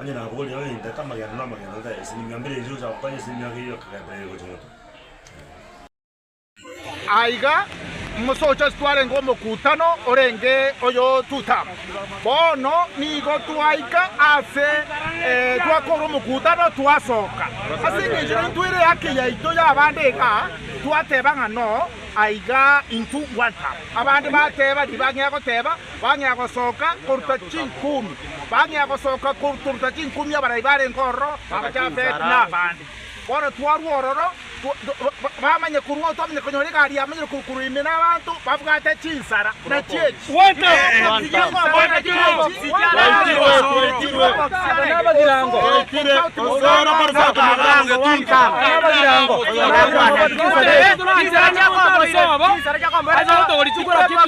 Onye naboria ng'a inche aka amagena na amagena ota aye esemi mia mbere inche gocha gokora esemi mia kerio akagenda ee gocha moto. Aiga mosocha ase twarenge omokutano orenge oyo tutam. Bono nigo twaika ase eh, twakora omokutano twasoka. Ase engencho nari ntwaire ehaki yaito y'abande iga twateba ng'a no aiga intu gwantam. Abande bateba riba ng'ia goteba Bang'ea gosoka koruta chinkumi. Bang'ea gosoka koruta chinkumi abarai barenge ororo, aba Jafeti na abande. Bono twarua ororo, bamanye korwa oo twamanya konyora egari yamenyire korwa korwa ime na abanto babwate chinsara na chieti, chinsara chiakoboisa.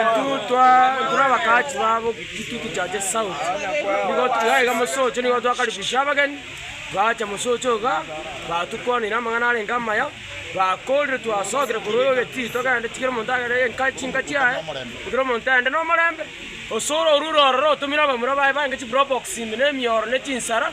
Intwe tore abagachi babo gituko kia Gesauri, nigo togaiga iga mosocho, nigo twakaribisia abageni, baacha mosocho iga, batukwanire amang'ana arenge amaya, bakorire twasokire korwa egetiti togende tikero omonto agende enka chinka chiaye, ekero omonto aende nomorembe, osore orure ororo otumire abamura baye baenge chiprobox ime na emioro ne chinsara.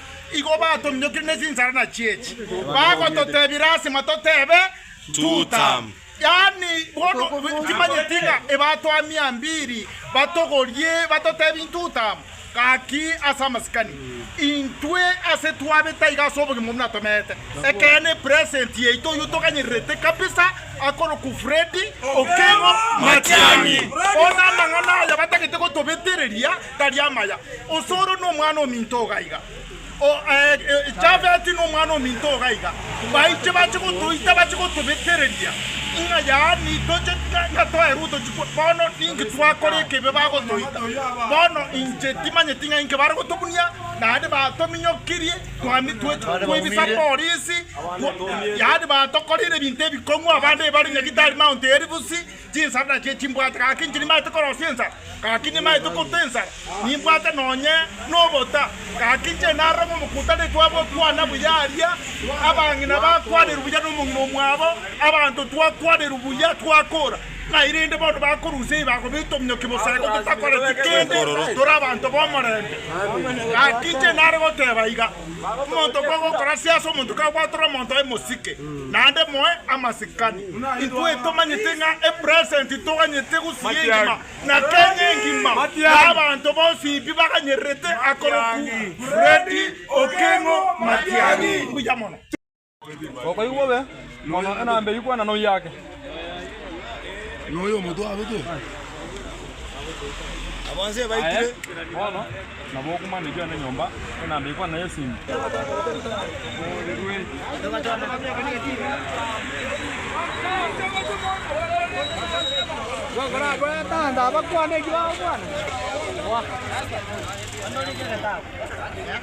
Igo batominyokire ne chinsara nachio echi, bagototebira asima totebe, Tutam, yaani, bono timanyeti ng'a ebatoa mia mbiri batogorie batotebie Tutam, gaki ase amasikani. Intwe ase twabe taiga ase obogima obwo natomete, ekeene present yaito oyio toganyererete kabisa akorokwa Freddy Okengo Matiang'i. Bono amang'ana aya batagete gotobetereria Tari amaya, Osoro nomwana ominto ogaiga, o, eh, Jafeti nomwana ominto ogaiga, baiche bache gotoita bache gotobetereria ng'a yaani toche ng'a- ng'a twaerwe otochi kwa- bono ninki twakora ekebe bagotoita. Bono inche timanyeti ng'a inki bare gotobunia, naende batominyokirie, twami twe twaibisa polisi, twa- yaani batokorire ebinto ebikong'u, abande bare nyagitari Mount Elbus, Chinsara nachio chimbwate, gaki inche nimaete korosia ensara, gaki nimaete kotwa ensara, nimbwate nonye nobota, gaki inche naroremo omokutaneku abo okwana buya aria, abang'ina bakwanerwe buya nomong'ina omwabo, abanto twakwanerwe buya twakora, nairende bono bakorusia eyi bakoba etomioki boseko totakoreti kende, tore abanto b'omorembe. Gaki inche nare goteba iga. Omonto bwe gokorasia ase omonto kagwatore omonto aye mosike, naende moe amasikani. Intwe tomanyete ng'a epresent toganyete gosiria engima na Kenya engima, na abanto bonsi bi baganyererete akoroku Freddy Okengo Matiang'i. Mbuya mono. Okoigwa obe mono enambe eyio kwana noyake. Aye bono nabo okumane kende nyomba enambe eyio kwana yesimi.